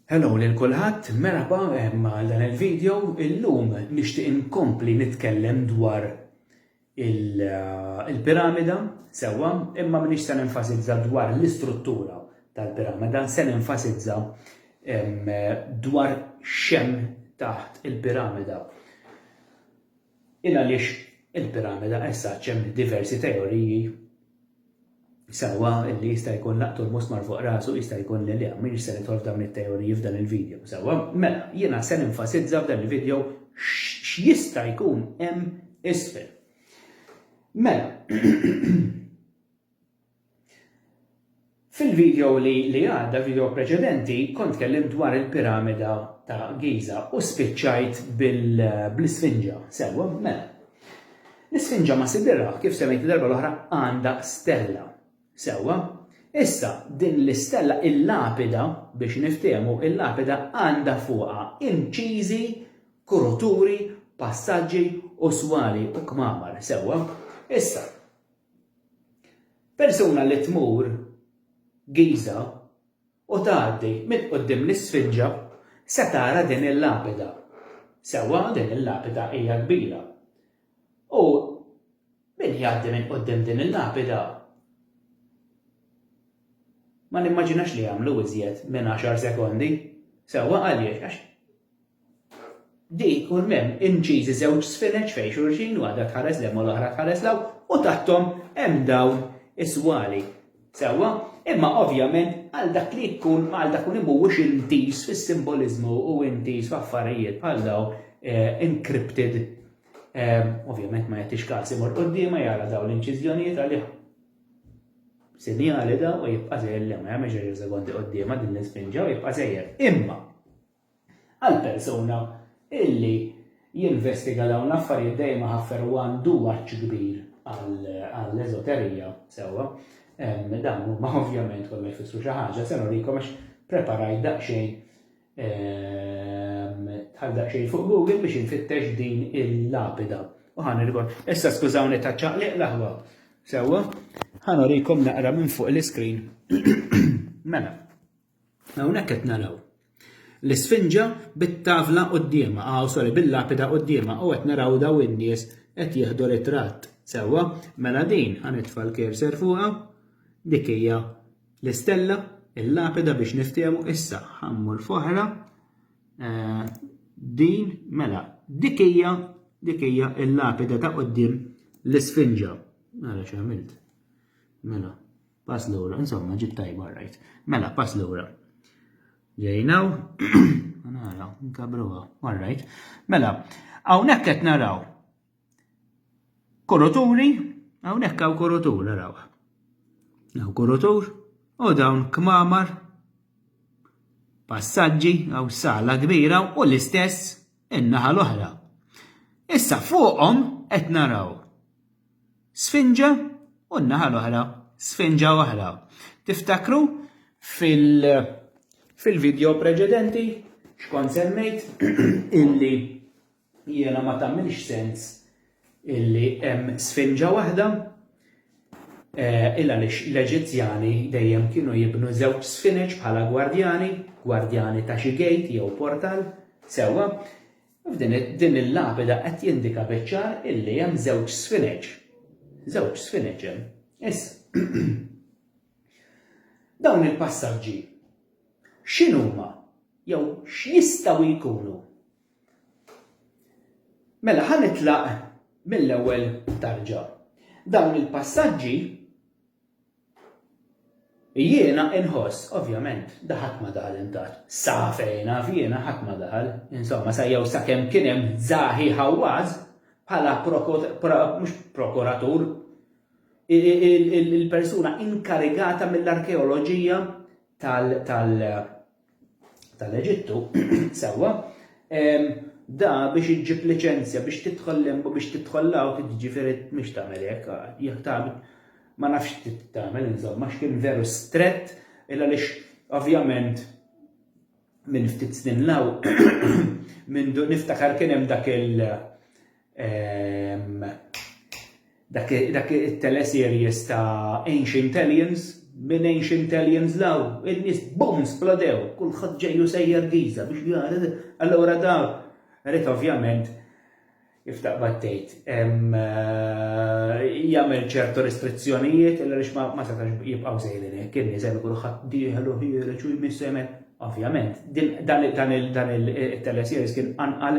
Hello lil kulħadd, merħba għal dan il-video. Illum nixtieq inkompli nitkellem dwar il-piramida sewwa, imma m'iniex se nenfasizza dwar l-istruttura tal-piramida, se nenfasizza dwar xem taħt il-piramida. Il għaliex il-piramida essa ċem diversi teoriji Sewwa li jista' jkun laqtu l-musmar fuq rasu jista' jkun li le, m'iniex se nidħol f'dawn it-teoriji f'dan il-video. Sewwa, mela, jiena se nenfasizza f'dan il-video x'jista' jkun hemm isfel. Mela, fil-video li li għadda, video preċedenti, kont tkellimt dwar il-piramida ta' Giza u spiċċajt bl-isfinġa, sewwa, mela. L-Isfinġa ma' Sidirah, kif semmejt id-darba l-oħra, għandha stella. Sewwa. Issa, din l-istella, il-lapida, biex niftehmu, il-lapida għandha fuqha inċiżi, kruturi, passaġġi u swali u kmamar. Sewwa. Issa, persuna li tmur Giża, u tgħaddi minn quddiem l-Isfinġa se tara din il-lapida. Sewwa din il-lapida hija kbira. U min jgħaddi minn quddiem din il-lapida ma nimmaġinax li jagħmlu iżjed minn għaxar sekondi. Sewwa għaliex? Għax Di jkun m'hemm inċiżi żewġ sfineġ fejn xulxin, waħda tħares l hemm u l-oħra tħares l hawn, u taħthom hemm dawn is-swali. Sewwa? Imma ovvjament għal dak li jkun għal dak li mhuwiex intiż fis-simboliżmu u intiż f'affarijiet bħal dawn eh, encrypted eh, ovvjament ma jagħtix każ imur quddiema jara dawn l-inċiżjonijiet għalih sinjali daw u jibqa' żejjer li ma jagħmel ġeġa sekondi quddiema din l-isfinġa u jibqa' żejjer. Imma Għall-persuna illi jinvestiga dawn l-affarijiet dejjem iħaffer u għandu għatx kbir għall-eżoterija, sewwa, dawn huma ovvjament kollha jfissru xi ħaġa, se nurikom għax preparajt daqsxejn bħal daqsxejn fuq Google biex infittex din il-lapida. U ħan irgħod. Issa skużawni ta' ċaqliq l-aħwa. Sewwa, ħan urikom naqra minn fuq l-iskrin. Mela, Hawnhekk qed naraw l-Isfinġa bit-tavla quddiemha, aw sorry bil-lapida quddiemha u qed naraw daw in-nies qed jieħdu ritratt. Sewwa, mela din ħa nitfa' l-cursor fuqha, dik hija l-istella, il-lapida biex niftehmu issa ħa mmur f'oħra eh, din mela dik hija dik hija l-lapida ta' qudiem l-Isfinġa. Mela x'għamilt. Mela. Pass lura, insomma, ġiet tajba rajt. Mela, pass lura. Ġejnaw, nara, nkabruha, all right. Mela, hawnhekk qed naraw kuruturi, hawnhekk hawn kurutur naraw. Hawn kurutur u dawn kmamar passaġġi għaw sala kbira u l-istess in-naħa l-oħra. Issa fuqhom qed naraw Sfinġa u n-naħa l-oħra sfinġa oħra. Tiftakru fil- fil-video preċedenti xkont semmejt illi jiena ma tagħmilx sens illi hemm sfinġa waħda eh, il għaliex l-Eġizzjani dejjem kienu jibnu żewġ sfineġ bħala gwardjani, gwardjani ta' xi gate jew portal, sewwa, F'din il-lapida qed jindika biċ-ċar illi hemm żewġ sfineg. Żewġ sfineg hemm. Issa. Dawn il-passaġġi x'inhuma jew x'jistgħu jkunu? Mela ħa nitlaq mill-ewwel tarġa. Dawn il-passaġġi Jiena inħoss, ovvjament, da ħadd ma daħal intatt. Sa fejn naf jiena ħadd ma daħal. Insomma, sa jew sakemm kien hemm Zahi Hawass bħala mhux prokuratur, il-persuna inkarigata mill-arkeoloġija tal tal-Eġittu, sewwa, da biex iġġib liċenzja biex tidħol limbu biex tidħol law tiġifieri mhix tagħmel hekk, jekk tagħmel ma nafx tagħmel insomma x'kien veru strett illa lix ovvjament minn ftit snin law minn niftakar kien hemm dak il Ehm, dak, dak il-teleseries ta' Ancient Aliens, minn Ancient Aliens law, il-nis bum splodew, kullħat ġejju sejjer giza biex jgħara, allora da, rrit ovvjament, iftaq battejt. Eh, jagħmel ċertu restrizzjonijiet illa lix ma setax jibqgħu sejrin hekk kien niżel kulħadd dieħel u ħiereġ u jmissemen. Ovvjament, dan il-teleseries kien anqal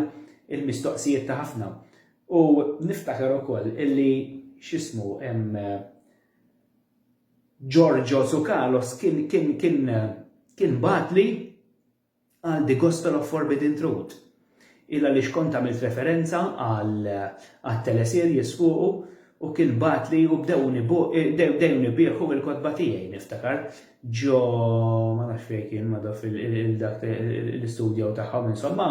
il-mistoqsijiet ta' ħafna. U niftakar ukoll illi x'ismu Giorgio Tsoukalos kien kien kien kien bagħatli għal The Gospel of Forbidden Truth. Il għaliex kont għamilt referenza għal telesirjes fuqu U kien bagħatli u bdewni bu, bdewni bieħu il-kotba tiegħi, niftakar, ġo, ma nafx fejn kien, madha fil-dak l-istudjaw tagħhom, insomma,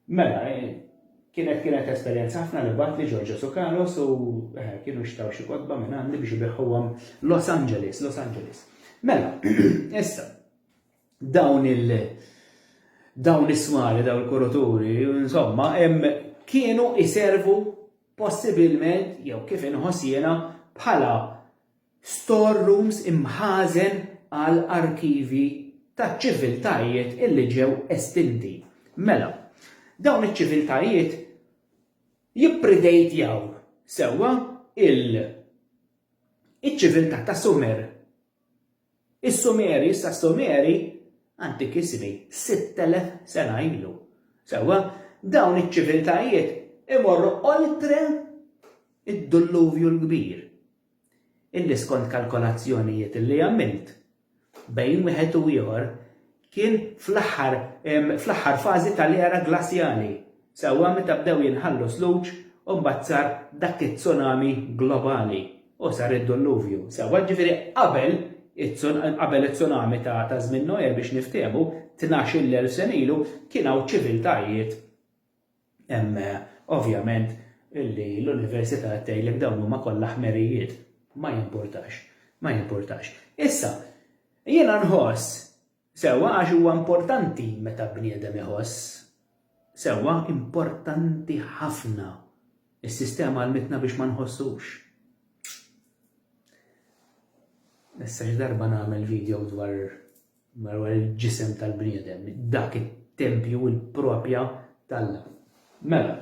mela, kienet kienet esperjenza ħafna li bat li Ġorġo Sukalos u eh, kienu xtaw xi kodba minn għandi biex ibiħuhom Los Angeles, Los Angeles. Mela, issa, dawn il dawn is-swali, dawn il-kuruturi, insomma, kienu iservu possibilment, jew kif inħoss jiena, bħala storerooms imħazen għal arkivi ta' ċiviltajiet illi ġew estinti. Mela, dawn iċ-ċiviltajiet jippridejtjaw sewwa il- iċ-ċiviltà ta' Sumer. Is-Sumeri issa s-Sumeri antikissimi, 6,000 sena ilu. Sewwa, dawn iċ-ċiviltajiet imorru oltre d-Dulluvju l-Kbir, illi skont kalkolazzjonijiet li għamilt, bejn wieħed u ieħor Kien fl-aħħar fl-aħħar fażi tal-era glasjali, sewwa meta bdew jinħallu sluġ u mbagħad sar dak it-tsunami globali u sar id-dulluvju, sewwa, jiġifieri qabel qabel it-tsunami ta' żmien Noè biex niftehmu, tnax-il elf sena ilu, kien hawn ċiviltajiet Hemm, ovvjament, li l-Università qed tgħidlek dawn huma kollha ħmerijiet. Ma jimpurtax. Ma jimpurtax. Issa, jiena nħoss, sewwa, għax huwa importanti meta bniedem iħoss, sewwa, importanti ħafna, is-sistema għallmitna biex ma nħossux. Issa xi darba nagħmel video dwar Madwar il-ġisem tal-bniedem, dak it-tempju, il-propja t'Alla. Mela,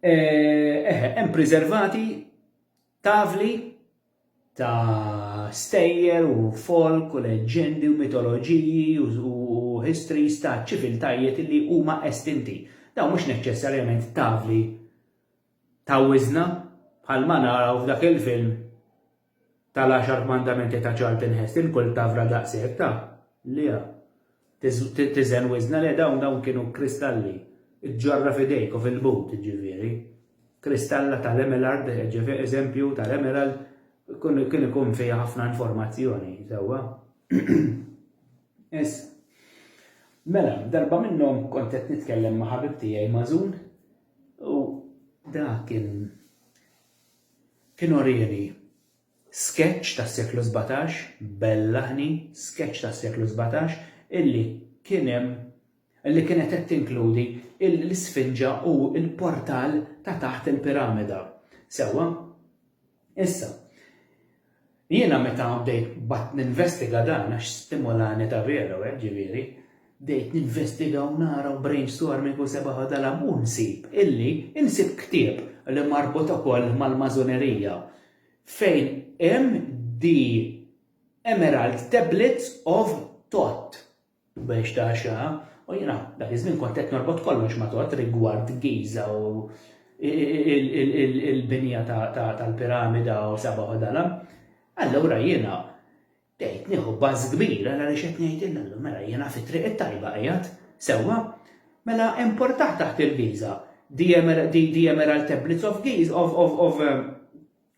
eħe, hemm preservati tavli ta' stejjer u folk u leġġendi u mitoloġiji u histories ta' ċiviltajiet li huma estinti. Daw mhux neċċessarjament tavli ta' wiżna bħal ma naraw f'dak il-film tal-għaxar kmandamenti ta' Charlton Heston, kull tavra daqshekk ta', liha. Tiżen wiżna le dawn, dawn kienu kristalli. Iġġorra f'idejk u fil-but, jiġifieri. Kristalla tal-emelard, jiġifieri eżempju tal-emerald, kien ikun fiha ħafna informazzjoni, sewwa? Issa. Mela, darba minnhom kont qed nitkellem ma' ħabib tiegħi Mażun u dak kien Kien urieni skeċċ tas-seklu sbatax, bellaħni skeċċ tas-seklu sbatax illi kien hemm illi kienet qed tinkludi l-isfinġa u l-portal ta' taħt il-piramida. Sewwa? Issa, Jiena meta bdejt baqgħet ninvestiga dan għax stimolani Gabriello hekk ġifieri, bdejt ninvestiga u nara u brainstorming u sebgħa u dalam u nsib illi nsib ktieb li marbut ukoll mal-Mażunerija fejn hemm The Emerald Tablets of Thoth B'għex ta' għaxra, u jiena dak iż-żmien kont qed norbot kollox ma' Todd rigward Giża u l-binja tal-piramida u seba' ħodala, allura jiena bdejt nieħu buzz kbir għal għaliex qed ngħidilha, allura mela jiena fit-triq it-tajba qiegħed, sewwa? Mela hemm portah taħt il-Giża, The Emerald Tablets of Giza, of, of, of,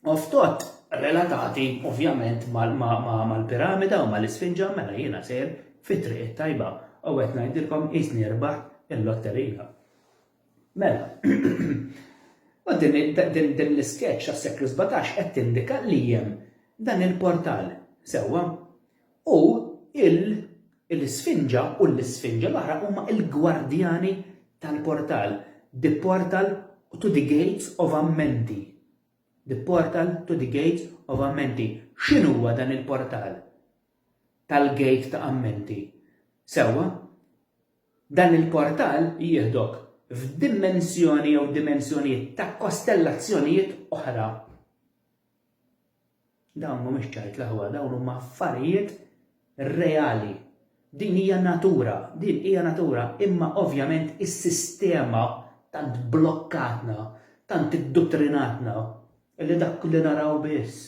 Oftot relatati ovvjament mal-piramida u mal-isfinġa mela jiena sejr fit-triq it-tajba u qed ngħidilkom qisni rbaħt il-lotterija. Mela, u din l-isketch għas-seklu 17 qed tindika li hemm dan il-portal, sewwa? U l-isfinġa u l-isfinġa l-oħra huma l-gwardjani tal-portal, the portal to the gates of Amenti. The portal to the gates of Amenti. X'inhuwa dan il-portal tal-gate ta' Amenti? Sewwa, dan il-portal jieħdok f'dimensjoni jew dimensjonijiet ta' kostellazzjonijiet oħra. Dawn mhumiex ċajt l-aħwa, dawn huma affarijiet reali. Din hija natura, din hija natura, imma ovvjament is-sistema tant blokkatna, tant idduttrinatna, li dak li naraw biss,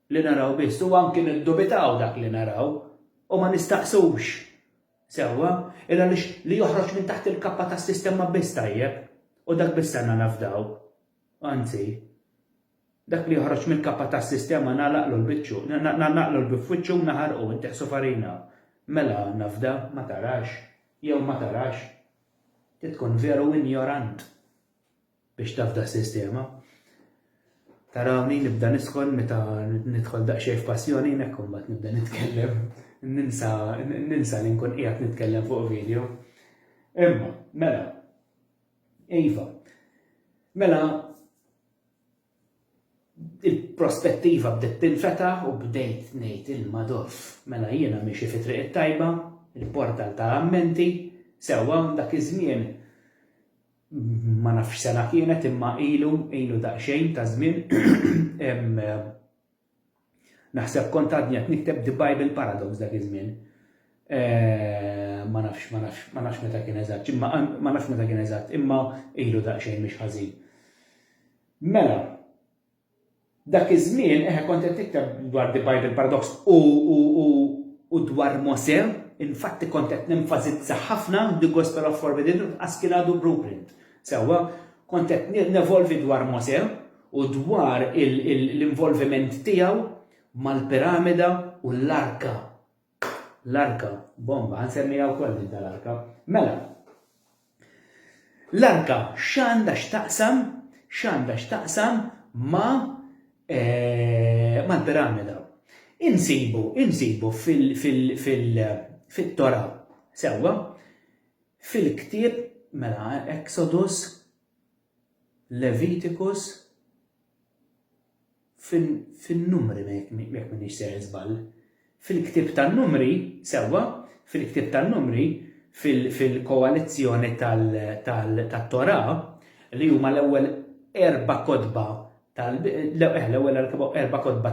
li naraw biss, u anki niddubitaw dak li naraw, u ma nistaqsux sewwa, il għaliex li joħroġ minn taħt il-kappa tas-sistema biss tajjeb, u dak biss għandna nafdaw. Anzi, dak li joħroġ mill-kappa tas-sistema nagħlaqlu l-biċċu, nagħlaqlu l-bieb f'wiċċu u naħarqu, inteħsu farina. Mela, nafda, ma tarax, jew ma tarax. Trid tkun veru injorant biex tafda s-sistema. Tarawni nibda niskon meta nidħol daqsxejn f'passjoni hekk imbagħad nibda nitkellem. Ninsa ninsa li nkun qiegħed nitkellem fuq video. Imma, mela, Iva. Mela il-prospettiva bdiet tinfetaħ u bdejt ngħid il-madoff. Mela jiena miexi fi triq it-tajba, il-portal ta' ammenti, sewwa dak iż-żmien ma nafx sena kienet imma ilu, ilu daqsxejn ta' żmien, Naħseb kont għadni qed nikteb The Bible Paradox dak iż-żmien. Eh, ma nafx, ma nafx, ma nafx meta kien eżatt, imma ma nafx meta kien eżatt, imma ilu daqsxejn mhix ħażin. Mela, dak iż-żmien eħe kont qed nikteb dwar The Bible Paradox u u dwar Mose, infatti kont qed nenfasizza ħafna The Gospel of Forbidden Truth għax kien għadu blueprint. Sewwa, kont qed nevolvi dwar Mose, u dwar l-involviment tiegħu mal-piramida u l-arka. L-arka, bomba, ħansemmiha wkoll din tal-arka. Mela, l-arka x'għandha x'taqsam, x'għandha x'taqsam ma eh, mal-piramida. Insibu, insibu fil-Tora, sewwa, fil-ktieb, mela, Exodus, Leviticus fin-Numri jekk m'iniex sejjer żball. Fil-Ktieb tan-Numri, sewwa, fil-Ktieb tan-Numri, fil-koalizzjoni tat-Torà, li huma l-ewwel erba' kotba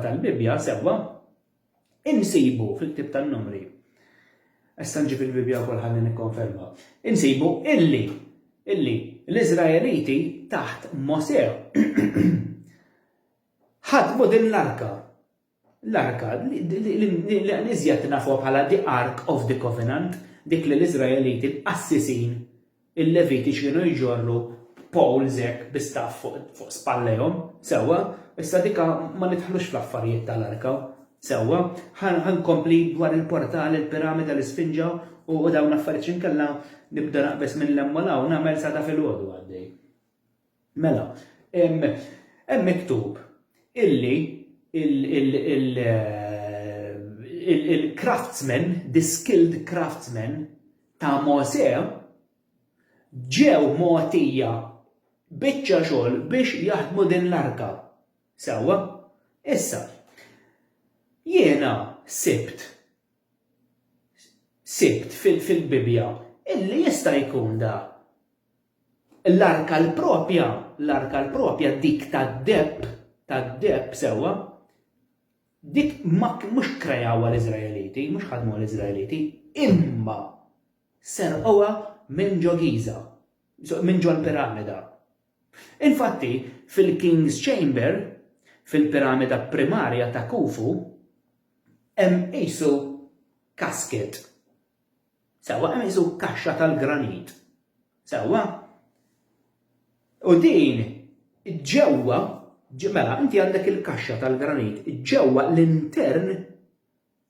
tal-Bibbja, sewwa, insibu, fil-Ktieb tan-Numri, issa nġib il-Bibbja wkoll ħalli nikkonferma, insibu illi, illi l-Iżraeliti taħt Mosè ħadmu din l-arka. L-arka li iżjed nafuha bħala the Ark of the Covenant, dik li l-Iżraeliti l-qassisin Il-Leviti x'kienu jġorru b'poles hekk bi staff fuq spallejhom, sewwa? Issa dik ma nidħlux fl-affarijiet tal-arka, sewwa? Ħa nkompli dwar il-portal, il-piramida, l-isfinġa u dawn l-affarijiet x'inkella nibda naqbeż minn 'l hemm u 'l hawn, nagħmel sa ta' filgħodu għaddej. Mela, hemm miktub illi il-craftsmen, the skilled craftsmen ta' Mosè ġew mogħtija biċċa xogħol biex jaħdmu din l-arka. Sewwa? Issa, jiena sibt sibt fil-Bibbja illi jista' jkun da L-arka l-proprja, l-arka l-proprja dik tad-deheb, tad-deheb, sewwa, dik ma mhux krejawha l-Iżraeliti, mhux ħadmuha l-Iżraeliti, imma serqowha minn ġo Giża, minn ġo l-piramida. Infatti, fil-King's Chamber, fil-piramida primarja ta' Khufu, hemm qisu casket. Sewwa, qisu kaxxa tal-granit. Sewwa? U din ġewwa, mela, inti għandek il-kaxxa tal-granit, ġewwa l-intern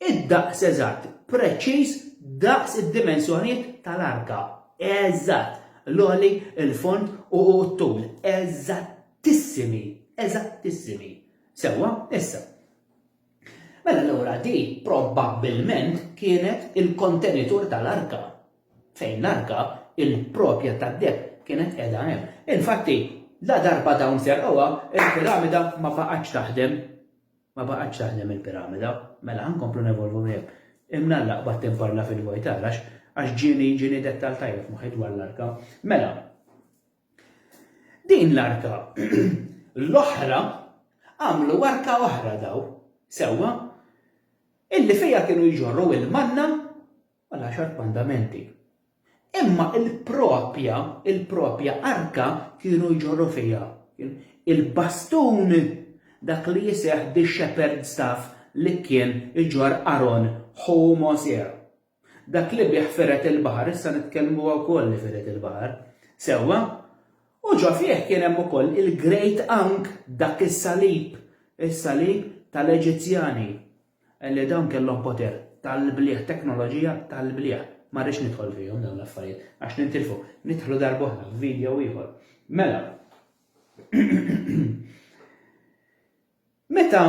id-daqs eżatt, preċiż daqs id-dimensjonijiet tal-arka. Eżatt, l-oli, il-fond u t-tul. Eżattissimi, eżattissimi. Sewwa, issa. Mela allura di probabbilment kienet il-kontenitur tal-arka. Fejn l-arka, il-propja tad-deb kienet qiegħda hemm. Infatti, la darba dawn serqoha, il-piramida ma baqgħetx taħdem. Ma baqgħetx taħdem il-piramida. Mela ħankomplu nevolvu hemm. Imnalla qbad tinparla fil-vojtar għax ġieni ġieni dettal tajjeb moħħi dwar l-arka. Mela, Din l-arka. L-oħra għamlu arka oħra daw, sewwa, illi fija kienu jġorru il-manna u l-għaxar mandamenti. Imma il-propja, il-propja arka kienu jġorru fija. Il-bastun dak li jiseħ di shepherd staff li kien iġor Aron ħu Mosè. Dak li bih fired il-baħar issa nitkellmuha wkoll li fired il-baħar. Sewwa? U ġo fih kien hemm ukoll il-great ank dak is-salib, is-salib tal-Eġizzjani li dawn kellhom poter tal-blieh, teknoloġija tal-blieh. Ma rridx nidħol fihom dawn l-affarijiet għax nintilfu, nidħlu darb'oħra f'video ieħor. Mela, meta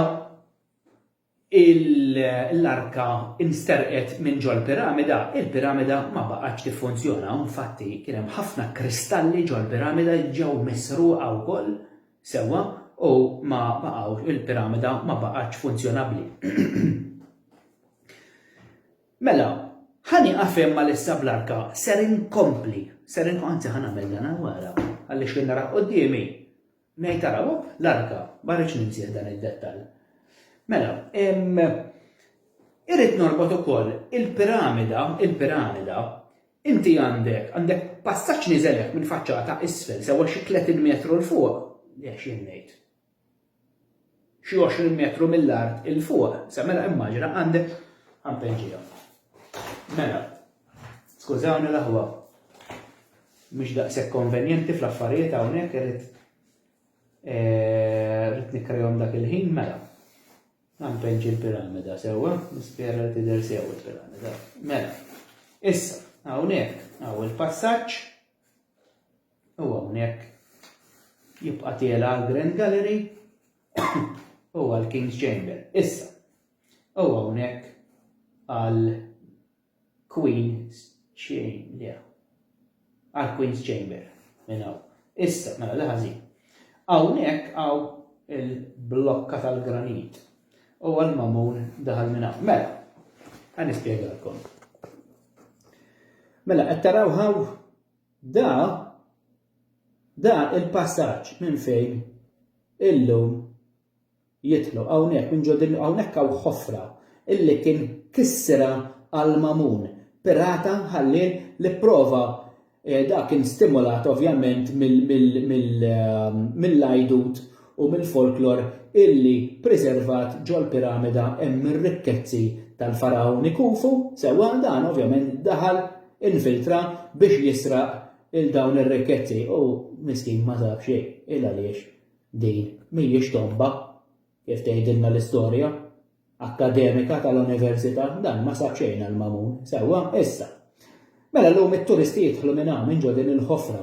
l-arka nsterqet minn ġol-piramida, il-piramida ma baqgħetx tiffunzjona u infatti kien hemm ħafna kristalli ġol-piramida li ġew misruqa wkoll sewwa u ma baqgħu il-piramida ma baqgħetx funzjonabbli. Mela, ħa nieqaf hemm għalissa bl-arka, ser inkompli, ser anzi ħa nagħmel dan wara għaliex kien nara quddiemi Ngħid taraw, oh, l-arka, ma rridx ninsih dan id-dettall. Mela, irrid norbot ukoll il-piramida, il-piramida, inti għandek, għandek passaġġ niżelek minn faċċata isfel sewa xi 30 metru l fuq, jekk xi ngħid. xi 20 metru mill-art 'il fuq, se mela immaġina għandek ħampenġija. Mela, skużawni l-aħwa, mhix daqshekk konvenjenti fl-affarijiet hawnhekk irid eh, rrid nikkrejhom dak il-ħin mela. Għampenġ il-piramida sewwa, nispjera li tidher sew il-piramida. Mela, issa, hawnhekk hawn il-passaġġ U hawnhekk jibqa' tiela' għall-Grand Gallery u għall-King's Chamber. Issa, u hawnhekk għal Queen's Chamber. Għal Queen's Chamber minn hawn. Issa, mela li ħażin. Hawnhekk hawn il-blokka tal-granit u għal-mamun daħal minn hawn. Mela, għan ispjegalkom. Mela, qed taraw hawn Da, da il-passaġġ minn fejn illum jidħlu hawnhekk minn ġo din hawnhekk hawn ħofra illi kien kissirha għal Mamun, pirata ħallien li pprova da kien stimulat ovvjament mill-għajdut u mill-folklor illi priservat ġol-piramida hemm ir-rikkezzi tal-Fargħuni Khufu, sewwa, dan ovvjament daħal, infiltra biex jisraq lil dawn ir-rikkezzi u miskin ma sab xejn, il-għaliex din mhijiex tomba kif tgħidilna l-istorja. akkademika tal-Università, dan ma sab xejn għal Mamun. Sewwa, issa. Mela llum it-turisti jidħlu minn hawn, minn ġo din il-ħofra.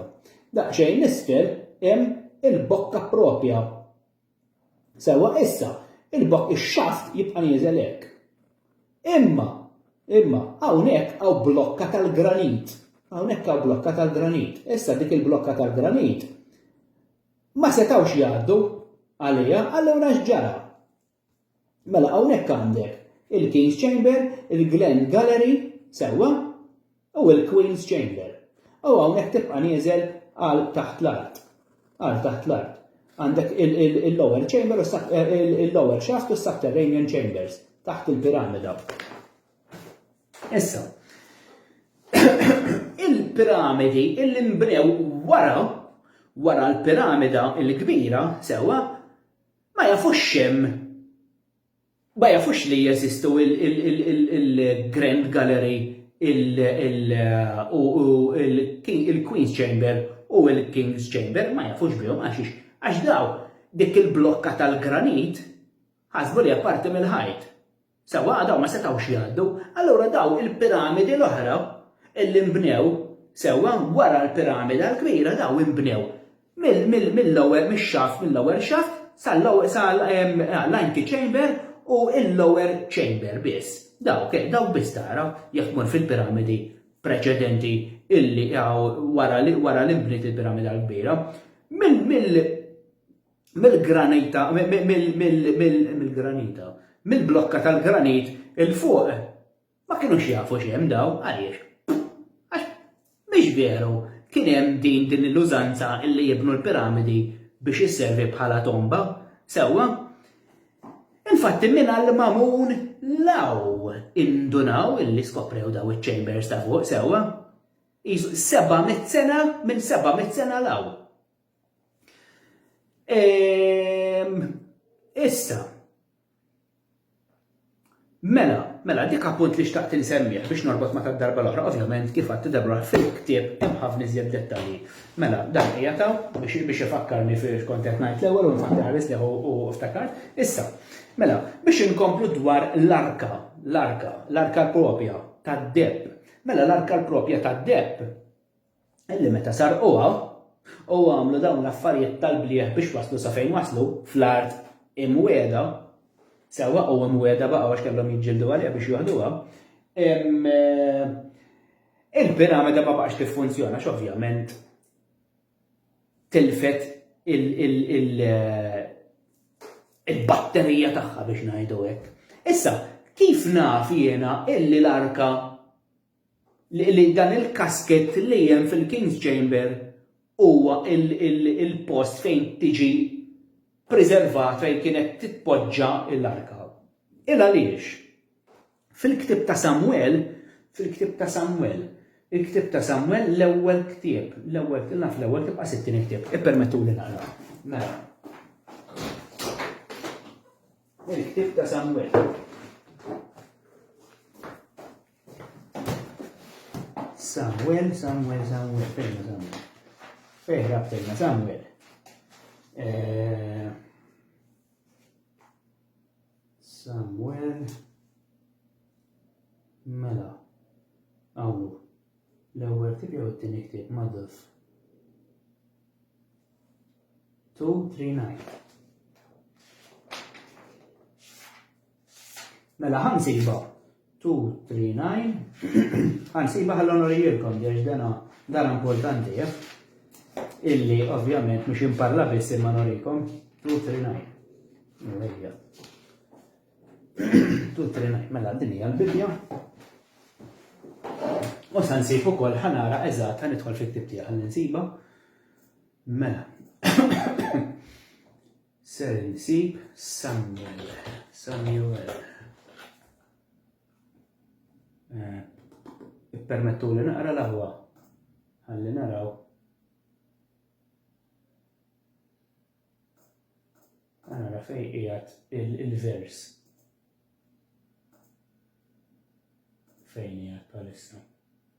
Daqsxejn isfel hemm il-bokka proprja. Sewwa, issa, il-bokk ix-xaft jibqa' nieżel hekk. Imma, imma, hawnhekk hawn blokka tal-granit. Hawnhekk hawn blokka tal-granit. Issa dik il-blokka tal-granit ma setgħux jgħaddu għaliha allura x'ġara? Mela hawnhekk għandek il-King's Chamber, il-Glen Gallery, sewwa, u l-Queen's Chamber. U hawnhekk tibqa' nieżel għal taħt l-art. Għal taħt l-art. Għandek il-lower chamber, eh, il-lower shaft u s-subterranean chambers, taħt il-piramida. Issa, il-piramidi illi mbnew wara, wara l-piramida il-kbira, sewa, Ma jafux x'hemm, ma jafux li jeżistu il-Grand Gallery u il-Queen's Chamber u il-King's Chamber, ma jafux bihom għaxiex? Għax dawn dik il-blokka tal-granit ħasbu li hija parti mill-ħajt. Sewwa, dawn ma setgħux jgħaddu. Allura dawn il-piramidi l-oħra li nbnew, sewwa, wara l-piramida l-kbira dawn inbnew mill-ewwel mix-xaft, mill-ewwel xaft sal-antechamber u l-lower chamber biss. Dawk, dawk biss tara jekk tmur fil-piramidi preċedenti illi wara li nbniet il-piramida l-kbira. Mill, mill, mill-granita, mill-granita, mill-blokka tal-granit il-fuq, ma kienux jafu xem daw, għaliex. Għax, miex veru, kien hemm din din l-użanza illi jibnu l-piramidi biex jisservi bħala tomba, sewwa. Infatti minn għall-mamun law indunaw illi skoprew daw iċ-chambers ta' fuq, sewwa. 700 sena minn 700 sena law. Ehm, issa, mela, mela, dik appunt li xtaqt insemmieħ biex norbot ma' tad-darba l-oħra, ovvjament kif għatti darba fil-ktieb hemm ħafna iżjed dettalji. Mela, dan hija taw biex biex ifakkarni fil-kont qed ngħid l-ewwel u nfakk ħares li u ftakart. Issa, mela, biex inkomplu dwar l-arka, l-arka, l-arka propja tad-deb. Mela l-arka propja tad-deb illi meta sarquha u għamlu dawn l-affarijiet tal-blieh biex waslu sa fejn waslu fl-art imwiegħda, sewwa u imwiegħda baqgħu għax kellhom jiġġieldu għaliha biex joħduha, il-piramida ma baqax tiffunzjona x'ovvjament tilfet il-batterija tagħha biex ngħidu hekk. Issa, kif naf jiena illi l-arka li dan il-kaskett li hemm fil-King's Chamber huwa l-post fejn tiġi ppriservat, fejn kienet titpoġġa l-arka. Il għaliex? Fil-ktieb ta' Samwel, fil-ktieb ta' Samwel, il-ktieb ta' Samwel l-ewwel ktieb, l-ewwel ktieb, naf l-ewwel ktieb qas it-tieni ktieb, ippermettuli naqra. Mela. Il-ktieb ta' Samwel. Samuel, Samuel, Samuel, fejna Samuel. Fejra fejna Samuel. Eh, Samuel. Mela. Għawnu. L-ewwel tip jew t-tieni ktieb maduf. 239. Mela ħansiba 239 ħansiba ħallonori jirkom biex dana dan importanti eh? illi ovvjament mhux imparla biss imma norikom 239. Mela, 239 mela din hija l-Bibbja. U sa nsib ukoll ħanara eżatt ħan nidħol fit-tib tiegħek ħalli nsiba. Mela. Ser insib Samuel. Samuel. Eh, Permettu li naqra l-aħwa. Għalli naraw. Għanara fej ijat il-vers. Fejn ijat palissa.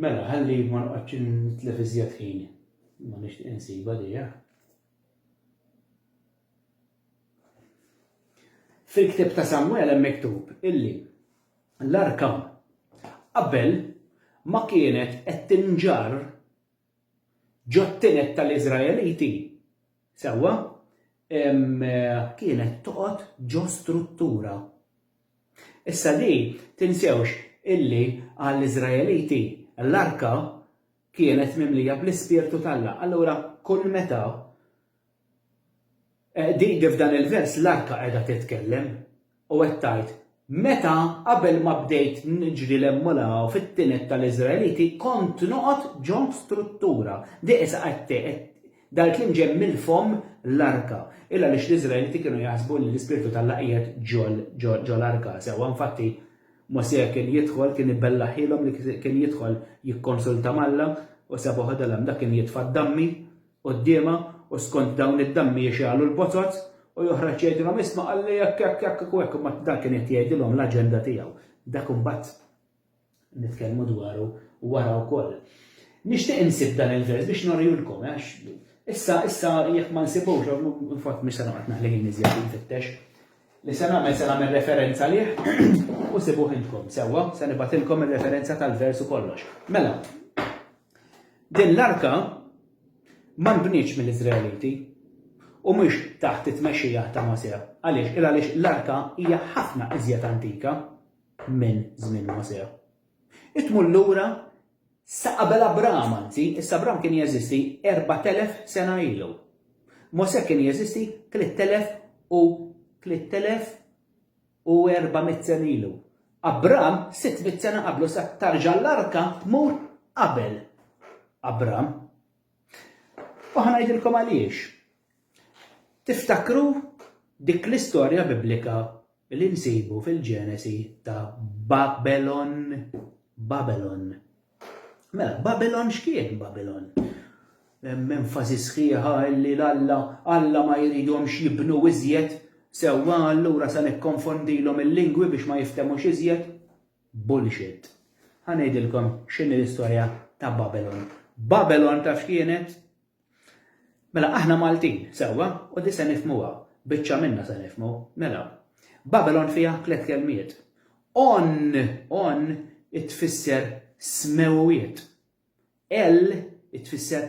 Mela, ħalli ma noqgħodx nitlef iżjed ħin. Ma nixtieq insibha dejja. Fil-ktieb ta' Samuel hemm miktub illi l-arka qabel ma kienet qed tinġar Ġot-tined tal-Iżraeliti, sewwa, kienet toqgħod ġo struttura. Issa di, tinsewx illi għall-Iżraeliti l-arka kienet mimlija bl-Ispirtu t'Alla. Allura kull meta Din kif f'dan il-vers l-arka qiegħda titkellem u qed tgħid, Meta, qabel ma bdejt niġri 'l hemm u 'l hawn fit-tined tal-Iżraeliti, kont noqgħod ġo struttura. Di qisha qed tgħid, Dan il-kliem ġej mill-fomm l-arka. Il għaliex l-Iżraeliti kienu jaħsbu li l-ispirtu t'Alla qiegħed ġo l-arka. Sewwa, infatti, Mosè kien jidħol, kien ibellaħhielhom li kien jidħol jikkonsulta m'Alla, u sabuh idhom hemm. Dak kien jitfa' d-dammi. quddiemha u skont dawn id-dammi jixgħalu l-botot u joħroġ jgħidilhom isma' qalli hekk hekk hekk u hekk imbagħad dan kien qed jgħidilhom l-aġenda tiegħu. Dak imbagħad nitkellmu dwaru wara wkoll. Nixtieq insib dan il-vers biex norielkom għax issa issa jekk ma nsibux infott mhux se noqgħod naħli ħin iżjed infittex. Li se nagħmel se nagħmel referenza lih u sibuh intkom sewwa se nibgħatilkom ir-referenza tal-vers u kollox. Mela, Din l-arka ma nbnietx mill-Iżraeliti u mhix taħt it-tmexxija ta' Mosè. Għaliex? Il għaliex l-arka hija ħafna iżjed antika minn żmien Mosè. Hi tmur lura sa qabel Abram, anzi, issa Abram kien jeżisti 4,000 sena ilu. Mosè kien jeżisti 3,000 u 3,000 u erba' mitt sena ilu. Abram, sitt mitt sena qablu sa tarġa' l-arka tmur qabel Abram. U ħa ngħidilkom għaliex. Tiftakru dik l-istorja biblika li nsibu fil-Ġenesi ta' Babelon. Babelon. Mela, Babilon x'kien Babilon? Hemm enfasi sħiħa li l-Alla Alla ma jridhomx jibnu iżjed sewwa allura se nikkonfondilhom il-lingwi biex ma jiftemux iżjed. Bullshit. Ħa ngħidilkom x'inhi l-istorja ta' Babilon. Babilon taf x'kienet? Mela aħna Maltin, sewwa, u di se nifhmuha, biċċa minna se nifhmu, mela. Babylon fiha tliet kelmiet. On, on tfisser smewwiet. El tfisser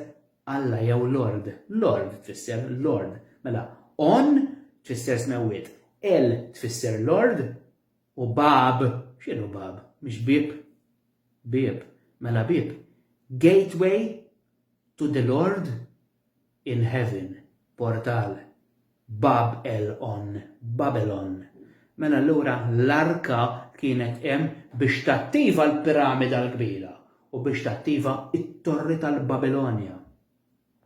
Alla jew Lord. Lord tfisser Lord. Mela, on tfisser smewwiet. El tfisser Lord u bab, x'inhu bab? Mhix bib? Bib. Mela bib. Gateway To the Lord in Heaven, Portal, Bab el On, Babylon. Mela allura l-Arka kienet hemm biex tattiva l-Piramida l-Kbira u biex tattiva t-Torri tal-Babilonja.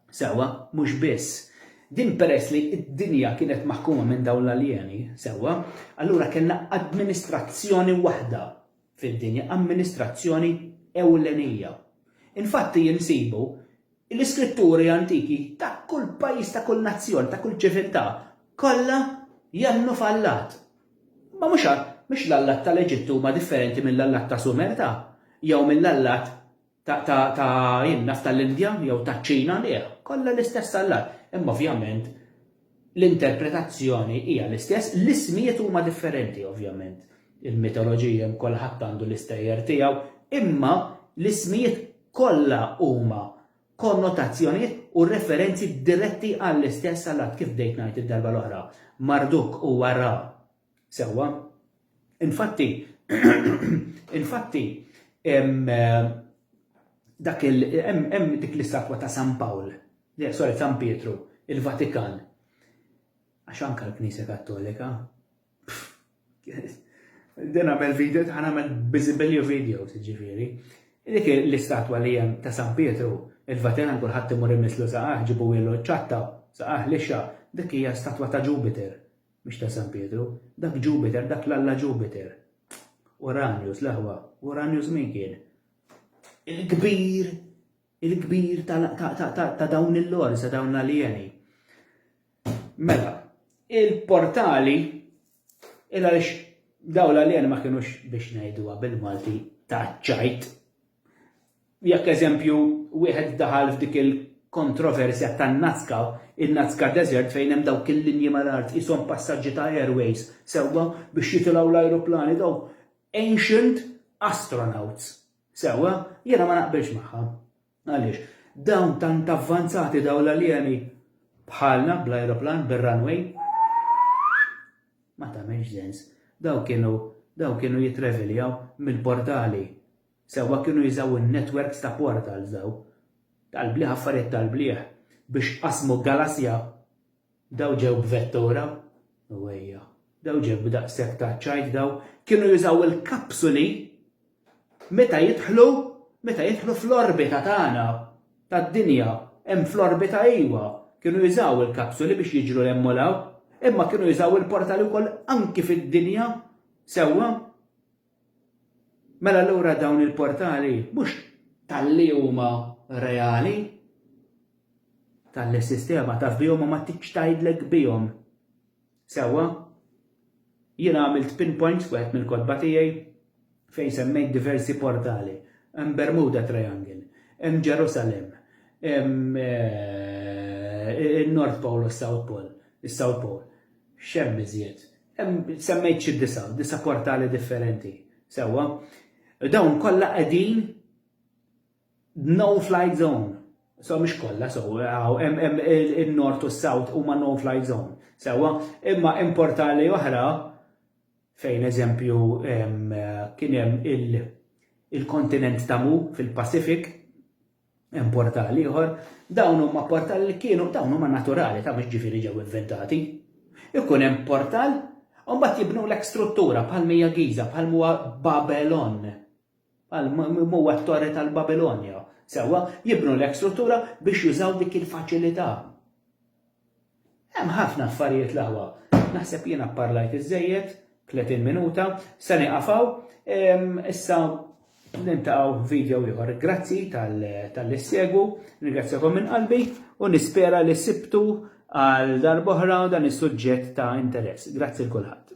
Sewwa, mhux biss. Din peress li d-dinja kienet maħkuma minn dawn l-aljeni, sewwa, allura kellna administrazzjoni waħda. fid-dinja amministrazzjoni ewlenija. Infatti insibu l-iskritturi antiki ta' kull pajjiż, ta' kull nazzjon, ta' kull ċiviltà, kollha jemmnu f'allat. Ma mhux għax l-allat tal-Eġittu huma differenti mill-allat ta' Sumer ta' jew mill-allat ta' in naf tal-Indja jew taċ-Ċina, le, kollha l-istess allat. Imma ovvjament l-interpretazzjoni hija l-istess, l-ismijiet huma differenti ovvjament. Il-mitoloġija kulħadd għandu l-istejjer tiegħu, imma l-ismijiet kollha huma konnotazzjonijiet u referenzi diretti għall-istess allat kif bdejt ngħid id-darba l-oħra. Marduk huwa Ra, Sewwa. Infatti, infatti, hemm dak il hemm dik l-istatwa ta' San Pawl, sorry, San Pietru, il-Vatikan. Għax anka l-Knisja Kattolika. Din għamel video, ħana għamel bizibilju video, ġifiri. Dik l-istatwa li hemm ta' San Pietru, il-Vatikan kulħadd imur imislu saqaħ, ġibu ilu ċatta, saqaħ lixa, dik hija statwa ta' Jupiter. Mhux ta' San Pietru. Dak Ġupiter, dak l-alla Ġupiter. Uranjus, l-aħwa. Uranjus min kien? Il-kbir, il-kbir ta' dawn il-lords, ta' dawn l-aljeni. Mela, il-portali, il-għalix daw l-aljeni ma kienux biex najduwa bil-Malti ta' ċajt, Jekk eżempju wieħed daħal f'dik il-kontroversja tan-Nazca, in-Nazca Desert fejn hemm dawk il-linji mal-art qishom passaġġi ta' airways sewwa biex jitilgħu l-ajruplani dawk ancient astronauts sewwa, jiena ma naqbilx magħha. Għaliex? Dawn tant avvanzati dawn l-aljeni bħalna bl-ajruplan bir-runway ma tagħmilx sens. Dawn kienu dawn kienu jitraveljaw mill-portali Sewwa kienu jużaw in-netwerks ta' portals dawn, tal-bliħ affarijiet tal-bliħ, biex qasmu galassja. Dawn ġew b'vettura? U ejja. Dawn ġew b'daqshekk ta' ċajt dawn. Kienu jużaw il-kapsuli meta jidħlu, meta jidħlu fl-orbita tagħna, tad-dinja. Hemm fl-orbita iwa. Kienu jużaw il-kapsuli biex jiġru 'l hemm u 'l hawn. Imma kienu jużaw il-portali wkoll anki fid-dinja. Sewwa? Mela allura dawn il-portali mhux talli huma reali, talli s-sistema taf bihom u ma tridx tgħidlek bihom. Sewwa, jien għamilt pinpoint f'wieħed mill-kotba tiegħi fejn semmejt diversi portali. Hemm Bermuda Triangle, hemm Ġerusalem, hemm eh, in-North Pole u s-South Pole, is-South Pole. X'hemm iżjed? Semmejt xi disa', disa' portali differenti, sewwa. Dawn kollha qegħdin no flight zone. So mhux kollha, so hemm in-Nord u s-South huma no flight zone, sewwa. Imma hemm portali oħra fejn eżempju kien hemm il-kontinent ta' Mu fil-Pacific, Hemm portali ieħor, dawn huma portali li kienu dawn huma naturali ta' mhux ġifieri ġew inventati. Ikun hemm portal u mbagħad jibnulek struttura bħal mija Giza, bħal huwa Babelon, bħal huwa t-torri tal-Babilonja. Sewwa, jibnulek struttura biex jużaw dik il-faċilità. Hemm ħafna affarijiet l-aħwa. Naħseb jiena pparlajt iżżejjed, 30 minuta, se nieqaf hawn. Issa niltaqgħu f'video ieħor. Grazzi tal-li ssegwu, nirringrazzjakom minn qalbi u nispera li sibtu għal darb'oħra dan is-suġġett ta' interess. Grazzi l kulħadd.